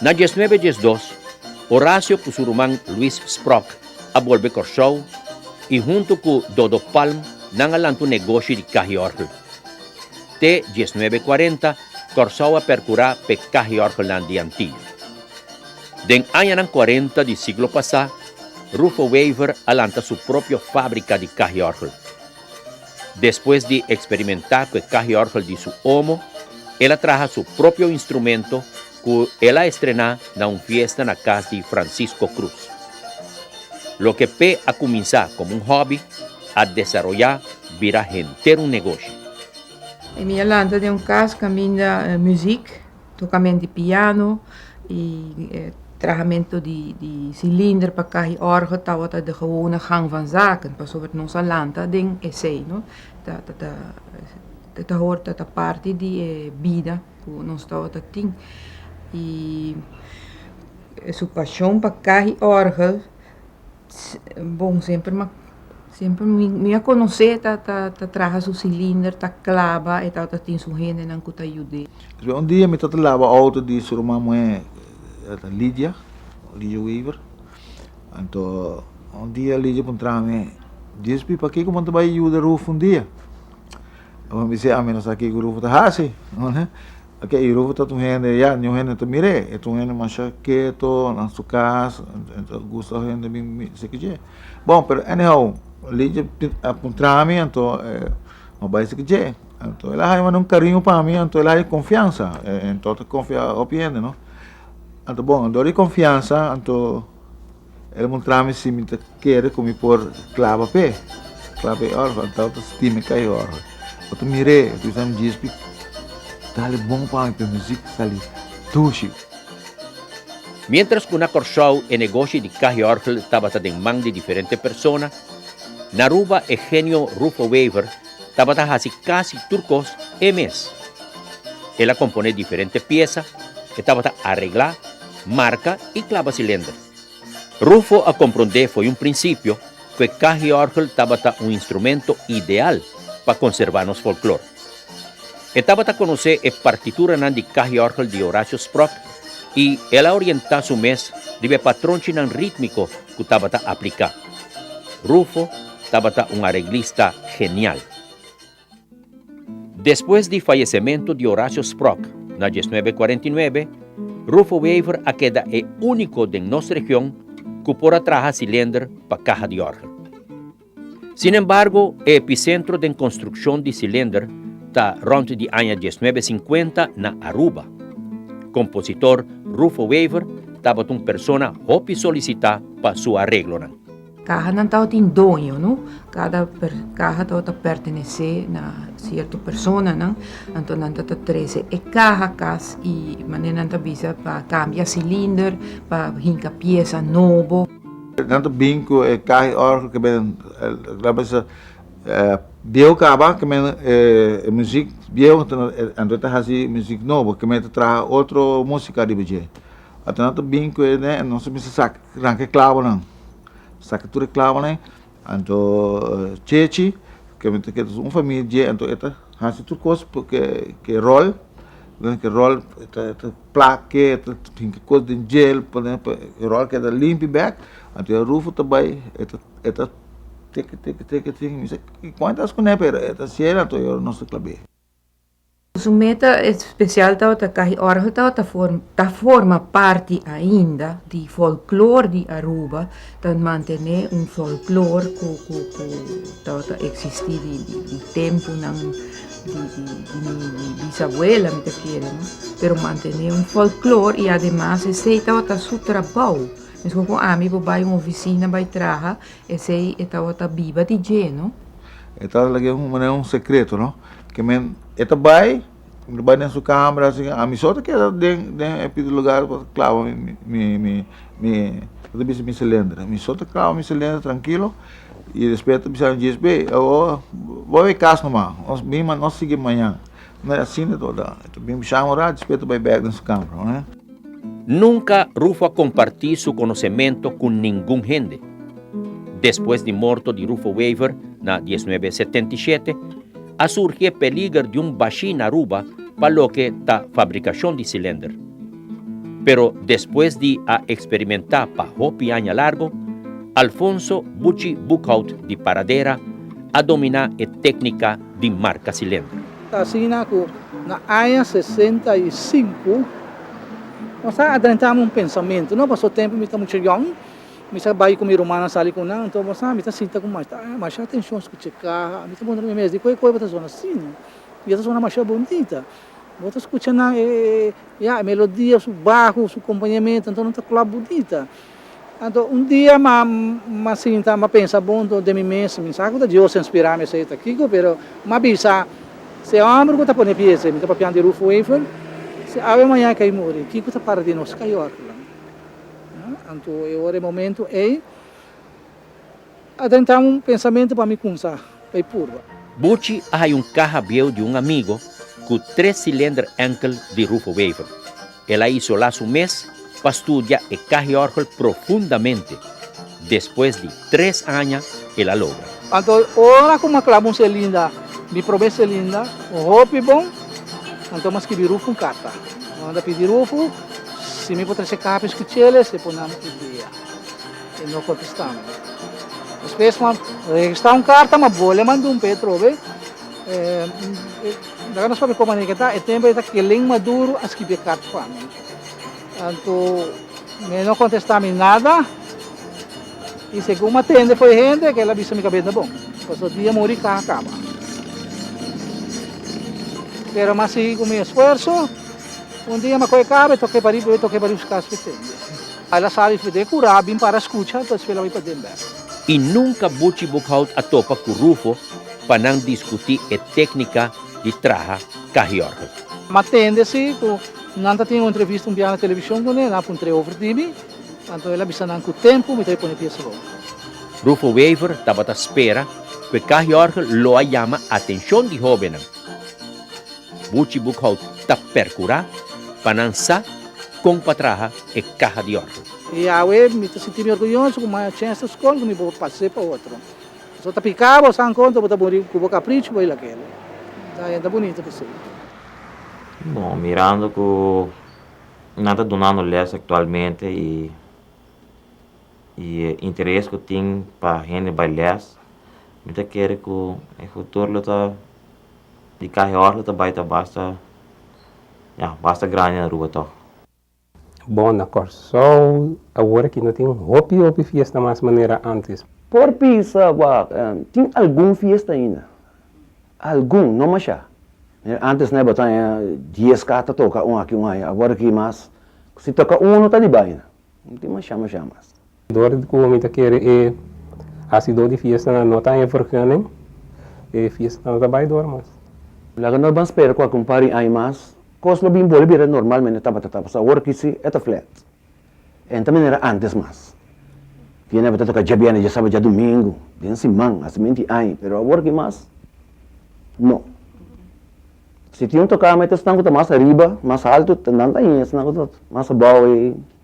Na dies nuebe dies dos, Horacio cu su ruman Luis Sprok a bolbe Corsou y hunto cu Dodo Palm nan a lanta un negoshi di cahiorgel. Te dies nuebe cuarenta, Corsou a percura p'e cahiorgelnan di Antillo. Den añanan cuarenta di siglo pasa, Rufo Wever a lanta su propio fabrica di cahiorgel. Despues di eksperimentá ku e kahiòrgel di su omo, el a traha su propio instrumento ku el a estrená na un fiesta na kas di Francisco Cruz. Loke p'e a kuminsá komo un hòbi a desaroyá bira henter un negoshi. Mi a lanta den un kas kaminda muzik. Tokamen di piano y trahamentu di cilinder pa kahi orgo tawata de gewone gang van zaken pasobra nos a lanta den esey no ta hoort dat ta parti di e bida ku nos tawata tin y su pashon pa kahi orgel. bon semper ma semper mi a conoce ta ta traha su cilinder ta claba e tawata tin su hendenan cu ta yud'e. Despues un dia mi ta ta laba auto di su ruman muhe Lydia, Lydia Weaver, anto un dia Lydia puntraha mi, Gisby paki cu bo no ta bay yuda Rufo un dia? Abo mi bisa ami no sa kico Rufo ta hasi. Oke e rufo ta ta un hende ya niun hende ta mir'é e ta un hende masha keto na su kas e ta gusta òf hende bin mi esei kidje bon pero anyhow ligia a puntra mi anto e no bai esei kidje anto el a haña manda un kariño pa mi anto el a haña konfiansa e anto ta konfia hopi hende no anto bon dor di konfiansa anto. El a muntra mi si mi ta kere ku mi por klaba p'e, klaba p'e ora ku anto ta sinti mi kai ora. Bo ta mir'é, bo ta bisa mi djispi dale bon pa mi p'e muzik ta sali dushi. Miéntras ku na Kòrsou e negoshi di kaiòrgel tabata den man di diferente persona, na Aruba e genio Rufo Wever tabata hasi kasi tur kos e mes. El a komponé diferente piesa, e tabata areglá Marka i klaba si lender. Rufo a komprondé fo'i un prinsipio ku e kahiòrgel tabata un instrumento ideal pa konservá nos folklor. E tabata konosé e partituranan di kahiòrgel di Horacio Sprott i el a orientá su mes riba e patronchinan rítmiko ku tabata apliká. Rufo tabata un areglista genial. Despues di fayesementu di Horacio Sprock na diesnuebe kuarenta i nuebe, Rufo Wever a keda e úniko den nos region ku por a traha silender pa kaha di òrgan. Sin embargo, e episentro den konstrukshon di silender ta rònt di aña diesnuebe sinkuenta na Aruba. Kompositor Rufo Wever tabatin un persona hopi solisitá pa su areglonan. Kahanan tabatin doño, no? Kada kaha tabata pertenesé na sierto personanan. Anto nan ta ta trese e kaha kas i manera nan ta bisa pa kambia silinder, pa hinka piesa nobo. Nan ta bin ku e kaha i òrgel ke men la mester biehu kaba, ke men e muzik biehu anto nan ta hasi muzik nobo, ke men ta traha otro músika riba dje. Ata nan ta bin cu ene nos ta mester saca ranca e clavonan, saca tur e clavonan, anto Chechi cu mi ta keda su un famia dje anto e ta haci tur cos cu e rol, cu e rol e ta placa e ta hinca cos den djel pa e rol keda limpi bek, anto ya Rufo ta bay e ta e ta teke teke teke teke mi bisa cu cuanto as cu ne pero e ta haci el anto nos ta clabe. Su meta espesial tabata kahi ora su tabata ta forma parti ainda di folklor di Aruba, ta mantené un folklor ku tabata eksistí di tempunan di mi bisabuela mi ta kere no, pero mantené un folklor i ademas esei tabata su trabou, meskos ku ami bo bai un ofisina bai traha esei e tabata biba di dje no. E tata la ke manera un sekreto, no? Ke men, e ta bai, e ta bai den su kambra así, ami so ta keda den, den e piso lugar pa klawa mi, mi, mi, mi, e ta bisa mi silindro. Ami so ta klawa mi silindro trankilo, i despues e ta bisa mi djis, Bey, awor bo a bay e kas nomas, nos bin, nos sigui mañan. No e asina ta wordá. E ta bin bishá un rat, dispé e ta bai bèk den su kama, oe. Nunka Rufo a kompartí su konosementu ku ningun hende. Despues di morto di Rufo Wever na dieznuebe e setenta i shete, a surgi e peliger di un bashí na Aruba pa loke ta fabrikashon di silender. Pero despues di a eksperimentá pa hopi aña largu, Alfonso Buchi Boekhout di Paradera a dominá e téknika di marka silendro. Ta asina ku na aña sesenta i sinku mi sa a drentame un pensamentu. No pasó tempu mi ta mucha yòn, mi sa bai ku mi rumannan sali ku nan, anto bo sa mi ta sinta ku masha atenshon skucha kaha. Mi ta puntra mi mes di kue kue bo ta sona asina? Mi ta sona masha bonita. Bo ta skucha nan e melodia, su baho, su kompañamentu, anto nan ta klòp bonita. Anto un dia ma ma sinta ma pensa buntu den mi mes, mi sa ku ta Dios ta inspirá mi esei ta kiko, pero m'a bisa, si e òmber ku ta pone pia esei, mi ta papian di Ruth Weifel, si awe mañana ke i muri, kiko ta para di nos? Ka York lan. Anto e ora, e momentu ei. A dentra un pensamentu pa mi kumsa bay purba. Buchi a haya un kaha bieu di un amigo ku tres silender ènkel di Rufo Wever. El a isolá su mes pa studia e kahiòrgel profundamente. Despues di tres aña el a logra. Anto ora ku mi a klaba un selinda, mi promé selinda, un hopi bon, anto mi a skibi Rufo un karta. Mi a manda pidi Rufo si mi por trese kapes ku cheles e por nan idea. E no kontestando. Despues man registá un karta ma bole mandun pa e trobe. E, daga nos papia komané ke ta, e tempo e ta kelen Maduro a skibi e karta pa mi. Anto me no kontestá mi nada. I segun ma tende for e hende, kela bisa mi kabet na bon. Paso dia muri kaha kaba. Pero ma sigui ku mi esfuerso, un dia ma kohe kaba e toke pari, e toke pari buska asfixia. Al a sabi fde cu Ra bin para scucha, pues fela bai pa den bek. Y nunca Buchi Boekhout a topa cu Rufo pa nan discuti e tecnica di traha Cahiorgel. M'a tende si cu nan ta tin un entrevista un biaha na television cu ne, nan a puntre over di mi, anto el a bisa nan cu tempo mi ta bai pone pieza boven. Rufo Wever tabata spera cu e Cahiorgel lo a yama atencion di hobennan. Buchi Boekhout ta percura pa nan sa con pa traha e caha di orto. Yahwe, mi ta sinti mi orguyoso cu maya cen esta scol cu mi por pas'e pa otro. Si bo ta pica, bo sa ancontra bo ta muri cu bo capricho bay lakele. Ta hende bunito pa esey. No, mirando cu nan ta dunando les actualmente y e interes cu tin pa hende bay les, mi ta kere cu e futuro lo ta. Di cahe orta ta bai ta basta ya basta grandi na Aruba tog. Bon na Kòrsou awor aki no tin hopi hopi fiesta mas manera antes. Por bisa bo tin algun fiesta ainda algun no mashá manera antes no tabata haña dies car ta toka un aki un aya awor aki mas si toka uno ta di bai na tin mashá mashá mas. Dor di cu mi ta kere e hacidor di fiestanan no ta haña vergüenha nen, e fiestanan no ta bay dor mas. Laga nos ban spera cu aki un par di aña mas, cos lo bin bolbe bira normal manera tabata ta, pasobra awor aki si e ta flat. E no ta manera antes mas. Tiene tabata toca dje biernes, dje sabado, dje domingo, den siman, hasta menti aña, pero awor aki mas no. Si tin un tocada ma e ta esnan cu ta mas ariba, mas alto, nan ta haña e esnan cu ta mas abao.